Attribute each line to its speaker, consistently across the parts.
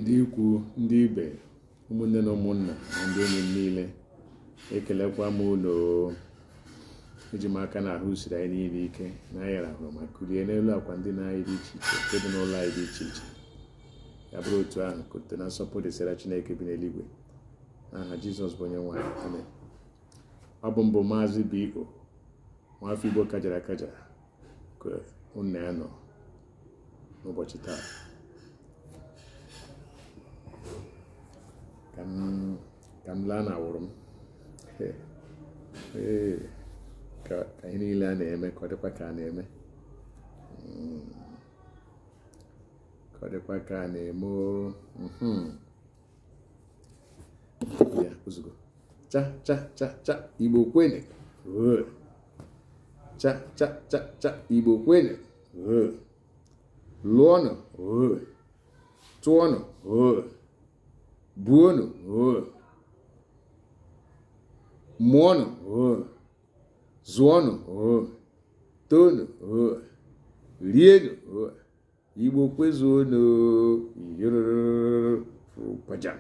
Speaker 1: ndị ikwu ndị ibe ụmụnne na ụmụnna na ndị enyi m niile ekelekwa m unu eji m aka na ahụ siri anyị niile ike na anyị rahụrụ ma kulie n'elu akwa ndina anyị dị iche iche nke dị n'ụlọ anyị dị iche iche ya bụrụ otu ahụ ka otito na nsọpụrụ dịsara chineke bi n'eluigwe n'aha jizọs bụ onye nwe anyị amen ọ bụ m bụ maazị bo nwafọ igbo kajara akaja ka unu na ya nọ n'ụbọchị taa ka m ka m laa na awụrụ m Ee, ee, ka ka ihe niile a na-eme ka ọ dịkwa ka a na-eme Mm. ka ọ dịkwa ka a na-eme o. Mhm. ya ozugbo cha cha cha cha igbo kwene cha cha cha cha igbo kwene lụọnụ tụọnụ buonụ mụọnụ zụọnụ toonụ rienụ igbo kwezuonu oyiropaja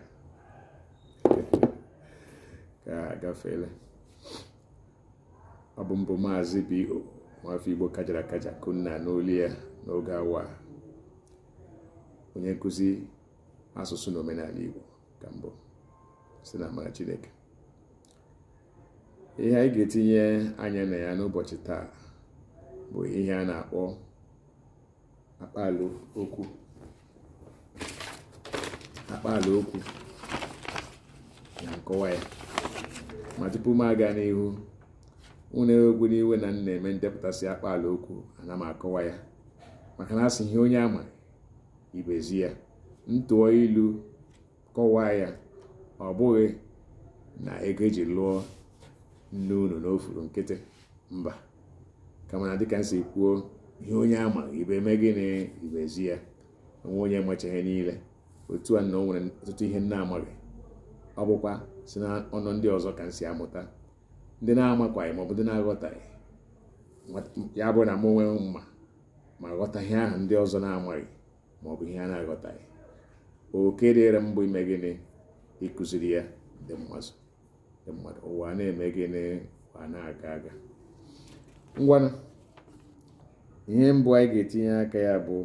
Speaker 1: ka agafeela ọ bụ m bụ maazị bo nwafọ igbo kajara akaja ka unu na-anụ olu ya n'oge awa a onye nkụzi asụsụ na omenala igbo ka m bụ si na amara chineke ihe anyị ga-etinye anya na ya n'ụbọchị taa bụ ihe a na-akpọ akpaala okwu akpaala okwu na nkọwa ya ma tupu m aga n'ihu unu ewekwana iwe na m na-eme ndepụtasị akpaala okwu ana m akọwa ya maka na a sị ihe onye ama ibe ezi ya m tụọ ilu kọwaa ya ọ bụghị na ego e ji lụọ nne unu na o furu nkịtị mba kama na dịka m si kwuo ihe onye ama ibe eme gịnị ibe ezi ya o nwe onye macha ihe niile otu a na o nwere ọtụtụ ihe m na-amaghị ọ bụkwa si na ọnụ ndị ọzọ ka m si amụta ndị m na-amakwaghị maọbụ ndị m na-aghọtaghị ya bụ na mụ onwe m ma ma ghọta ihe ahụ ndị ọzọ na-amaghị ma ọ bụ ihe ha na-aghọtaghị oke dịrị m bụ ime gịnị ịkụziri ya ndị mmadụ ụwa na-eme gịnị ụwa na-aga aga ngwanụ ihe mbụ anyị ga-etinye aka ya bụ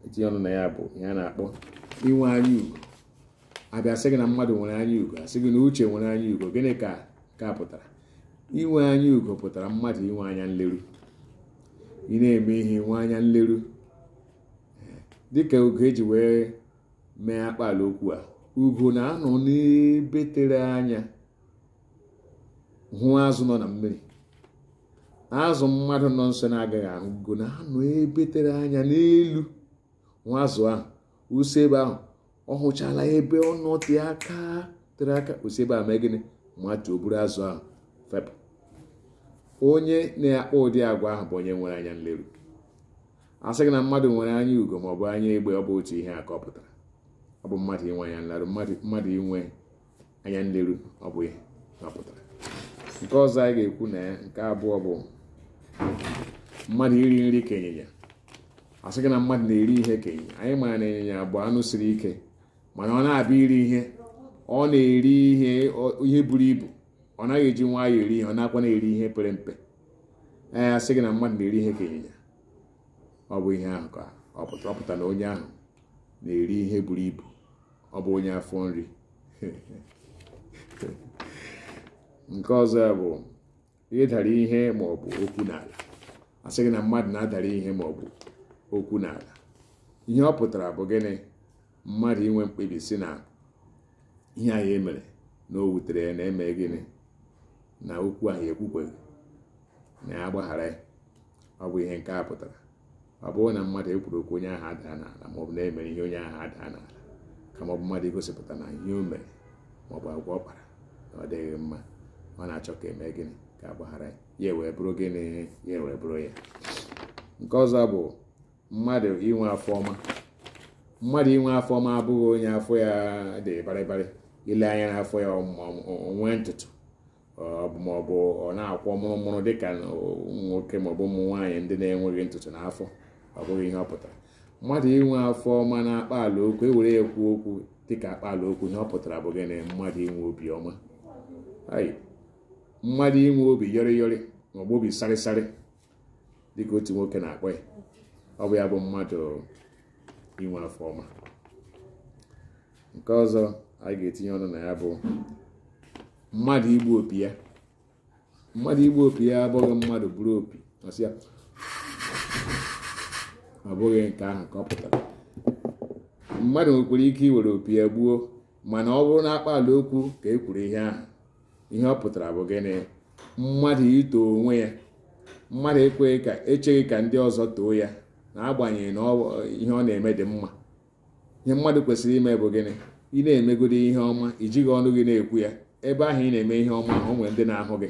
Speaker 1: etinye ọnụ na ya bụ ihe a na-akpọ inwe anya ugo a bịa sị gị na mmadụ nwere anya ugo a sị gị na uche nwere anya ugo gịnị ka ka ọ pụtara inwe anya ugo pụtara mmadụ inwe anya nleru ị na-eme ihe inwe anya nleru dịka ugo e ji wee mee akpaala okwu a ugo na-anọ n'ebe tere anya hụ azụ nọ na mmiri azụ mmadụ nọ nso na-agaghị ahụ ugo na-anọ ebe tere anya n'elu hụ azụ ahụ ụsọ ebe ahụ ọ hụchala ebe ọ nọ tee aka tere aka o si ebe a mee gịnị matuo buru azụ ahụ fepụ onye na-akpa ụdị agwa ahụ bụ onye nwere anya nleru a sị gị na mmadụ nwere anya ugo ma ọ bụ anya egbe ọ bụ otu ihe a ka ọ pụtara ọ bụ mmadụ inwe anya nleru mmadụ inwe anya nleru ọ bụ ihe ọ pụtara nke ọzọ anyị ga-ekwu na ya nke abụọ bụ mmadụ iri nri ka ịnyịnya a sị gị na mmadụ na-eri ihe ka ịnyịnya anyị mara na ịnyịnya bụ anụ siri ike mana ọ na-abịa iri ihe ọ na-eri ihe buru ibu ọ naghị eji nwayọọ eri ihe ọ naghịkwanụ eri ihe pere mpe ee a sị gị na mmadụ na-eri ihe ka ịnyịnya ọ bụ ihe ahụ ka ọ pụtara na onye ahụ na-eri ihe buru ibu ọ bụ onye afọ nri nke ọzọ bụ ịdara ihe maọbụ okwu n'ala a sị gị na mmadụ na-adara ihe maọbụ okwu n'ala ihe ọ pụtara bụ gịnị mmadụ inwe mkpebi sị na ihe ahụ ya mere na o wutere ya na e mee gịnị na okwu ahụ ya ekwukweghị na ya gbaghara ya ọ bụ ihe nke a pụtara ọ bụghị na mmadụ kwuru okwu onye ahụ adaa n'ala maọbụ na e mere ihe onye ahụ adaa n'ala kama ọ bụ mmadụ igosipụta na ihe o mere maọbụ agwa ọ kpara na ọ dịghị mma ọ na-achọ ka e mee gịnị ka a gbaghara ya ya wee bụrụ gịnị ya wee bụrụ ya nke ọzọ bụ mmadụ inwe afọ ọma mmadụ inwe afọ ọma abụghị onye afọ ya dị barịbarị i lee anya n'afọ ya o nwee ntutu maọbụ ọ na-akwọ mụrụmụrụ dịka ụmụ nwoke maọbụ ụmụ nwaanyị ndị na-enweghị ntutu n'afọ ọ bụghị ihe ọ pụtara mmadụ inwe afọ ọma na akpaala okwu e were ya kwuo okwu dịka akpaala okwu ihe ọ pụtara bụ gịnị mmadụ inwe obi ọma mmadụ inwe obi yọrịyọrị maọbụ obi sarịsarị dịka otu nwoke na-akpọ ya ọ bụ ya bụ mmadụ inwe afọ ọma nke ọzọ anyị ga-etinye ọnụ na ya bụ mmadụ igbu opi ya mmadụ igbu opi ya abụghị mmadụ buru opi ọsị ya ọ bụghị nke ahụ ka ọ pụtara mmadụ nwekwara ike iwere opi ya gbuo mana ọ bụrụ na akpaala okwu ka e kwuru ihe ahụ ihe ọ pụtara bụ gịnị mmadụ ito onwe ya mmadụ ekweghị ka echeghị ka ndị ọzọ too ya n'agbanyeghị na ihe ọ na-eme dị mma ihe mmadụ kwesịrị ime bụ gịnị ị na-emegodi ihe ọma i jighị ọnụ gị na-ekwu ya ebe ahụ ị na-eme ihe ọma o nwere ndị na-ahụ gị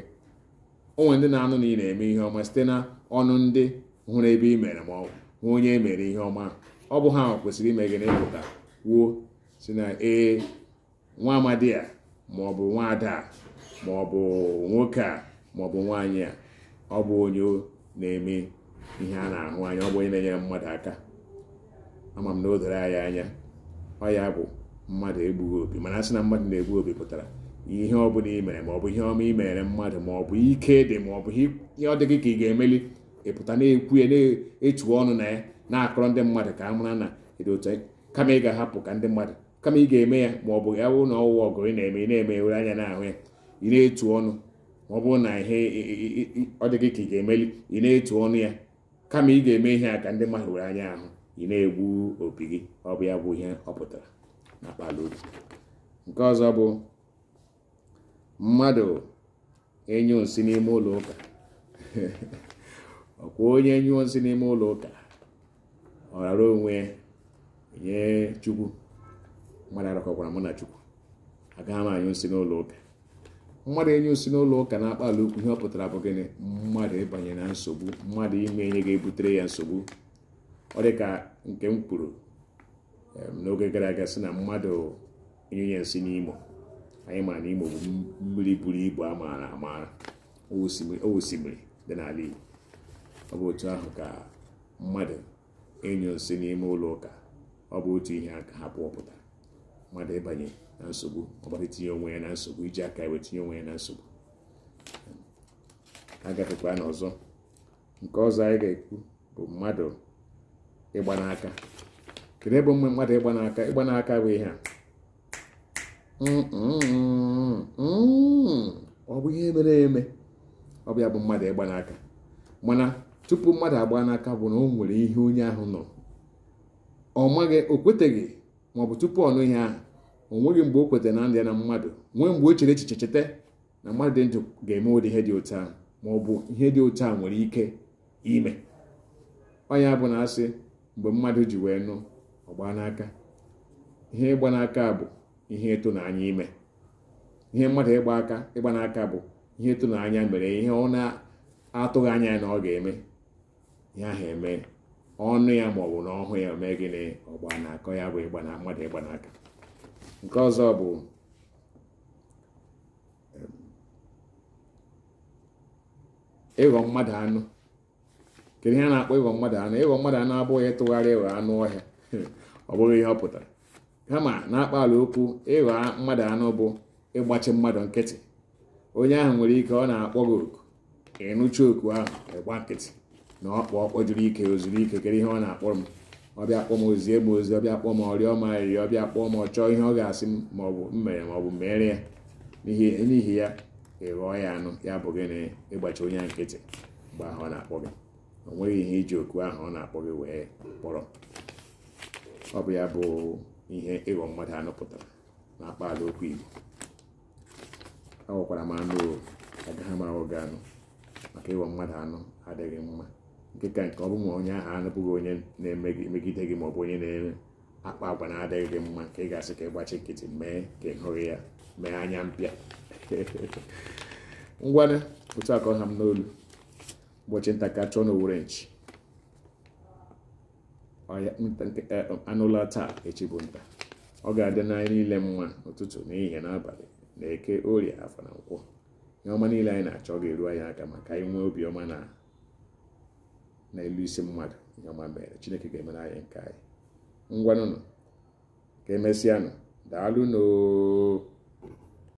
Speaker 1: o nwere ndị na-anụ na ị na-eme ihe ọma site na ọnụ ndị hụrụ ebe i mere ma ọ bụ onye e mere ihe ọma ọ bụ ha kwesịrị ime gịnị ịpụta kwuo sị na ee nwa amadi a ma ọ bụ nwa ada a ma ọ bụ nwoke a ma ọ bụ nwaanyị a ọ bụ onye na-eme ihe a na-ahụ anya ọ bụ onye na-enyere mmadụ aka ama m na o doro anyị anya ọ ya bụ mmadụ egbughị opi mana a sị na mmadụ na-egbu opi pụtara ihe ọ bụla i mere ma ọ bụ ihe ọma i mere mmadụ ma ọ bụ ike dị ma ọ bụ ihe ọ dị gị ka ị ga-emeli ị pụta na-ekwu ya na-etu ọnụ na ya na-akọrọ ndị mmadụ ka a mara na ị dị otu kama ị ga-ahapụ ka ndị mmadụ kama ị ga-eme ya ma ọ bụ ya bụrụ na ọ wụwa ọgọ ị na-eme ị na-eme were anya na-ahụ ya ị na-etu ọnụ ma ọ bụrụ na ihe ọ dị gị ka ị ga-emeli ị na-etu ọnụ ya kama ị ga-eme ihe a ka ndị mmadụ were anya ahụ ị na-egbu opi gị ọ bụ ya bụ ihe ọ pụtara n'akpaalaokwu nke ọzọ bụ mmadụ ịnyụ nsị n'ime ụlọ ụka ọ kwa onye nyụọ nsị n'ime ụlọ ụka ọ rara onwe ya nye chukwu mmadụ arakọkwara mụ na chukwu agaghị m anyụ nsị n'ụlọ ụka mmadụ ịnyụ nsị n'ụlọ ụka n'akpaalaokwu ihe ọ pụtara bụ gịnị mmadụ ịbanye na nsogbu mmadụ ime ihe ga-ebutere ya nsogbu ọ dị ka nke m kwuru n'oge gara aga sị na mmadụ ịnyụnye nsị n'imo anyị mara na imo bụ mmiri buru ibu a maara amara ọ wụ osimiri dị n'ala igbo ọ bụ otu ahụ ka mmadụ ịnyụ nsị n'ime ụlọ ụka ọ bụ otu ihe a ka ha pụọ pụta mmadụ ịbanye na nsogbu mmadụ itinye onwe ya na nsogbu iji aka ya wee tinye onwe ya na nsogbu a gafekwa n'ọzọ nke ọzọ anyị ga-ekwu bụ mmadụ ịgba n'aka kedu ebe mgbe mmadụ ịgba n'aka ịgba n'aka bụ ihe a ọ bụ ihe mere eme ọ bụ ya bụ mmadụ ịgba n'aka mana tupu mmadụ agba n'aka bụ na o nwere ihe onye ahụ nụ ọ maghị o kweteghị maọbụ tupu ọ nụ ihe ahụ o nweghị mgbe o kwetara na ndị na mmadụ nwee mgbe o chere echiche cheta na mmadụ dị ndụ ga-eme ụdị ihe dị otu ahụ ma ọ bụ ihe dị otu a nwere ike ime ọ ya bụ na a sị mgbe mmadụ ji wee nụ ọ gba n'aka ihe ịgba n'aka bụ ihe ịtụnanya ime ihe mmadụ ịgba aka ịgba n'aka bụ ihe ịtụnanya mere ihe ọ na-atụghị anya ya na ọ ga-eme ihe ahụ emee ọ nụ ya ma ọ bụ na ọ hụ ya mee gịnị ọ gba n'aka ya bụ ịgba na mmadụ ịgba n'aka nke ọzọ bụ ịghọ mmadụ anụ kedu ihe a na-akpọ ịghọ mmadụ anụ ịghọ mmadụ anụ abụghị ịtụgharị ịghọ anụ ọhịa ọ bụghị ihe ọ pụtara kama n'akpaalaokwu ịghọ mmadụ anụ bụ ịgbachi mmadụ nkịtị onye ahụ nwere ike ọ na-akpọ gị oku ka ị nụcha oku ahụ ị gba nkịtị na ọ kpọ ọ kpọjuru ike o zuru ike kedu ihe ọ na-akpọrọ m ọ bịa kpọọ m o zie m ozi ọ bịa kpọọ m ọ rịọ m arịrịọ ọ bịa kpọọ m ọ chọọ ihe ọ ga-asị m ma ọ bụ m mere ma ọ bụ mere ya n'ihi ya ị ghọọ ya anụ ya bụ gịnị ịgbachi onye nkịtị mgbe ahụ ọ na-akpọ gị o nweghị ihe i ji oku ahụ ọ na-akpọ gị wee kpọrọ ọ bụ ya bụ ihe ịghọ mmadụ anụ pụtara na akpaala okwu Igbo aghọkwara m anụ o agaghị m aghọ gị anụ maka ịghọ mmadụ anụ adịghị mma nke ka nke ọ bụ ma onye ahụ abụghị onye na-emegide gị maọbụ onye na-eme akpa agwa na-adịghị gị mma ka ị ga-asị ka ị gbachi nkịtị mee ka ị hụghị ya mee anya mpịa ngwanụ otu a ka ọ ha m n'olu ụbọchị nta ka a chụọ na owere nchi ọya nta nkịta anụ laa taa echi bụ nta ọ ga-adịrị anyị niile mma ụtụtụ n'ehihie n'abalị na eke orie afọ na nkwọ ihe ọma niile anyị na-achọ ọ ga-eru anyị aka maka anyị nwee obi ọma na na elu isi mmadụ ihe ọma mere chineke ga-emere anyị nke anyị ngwanụnụ ka emesịanụ daalụnụ oo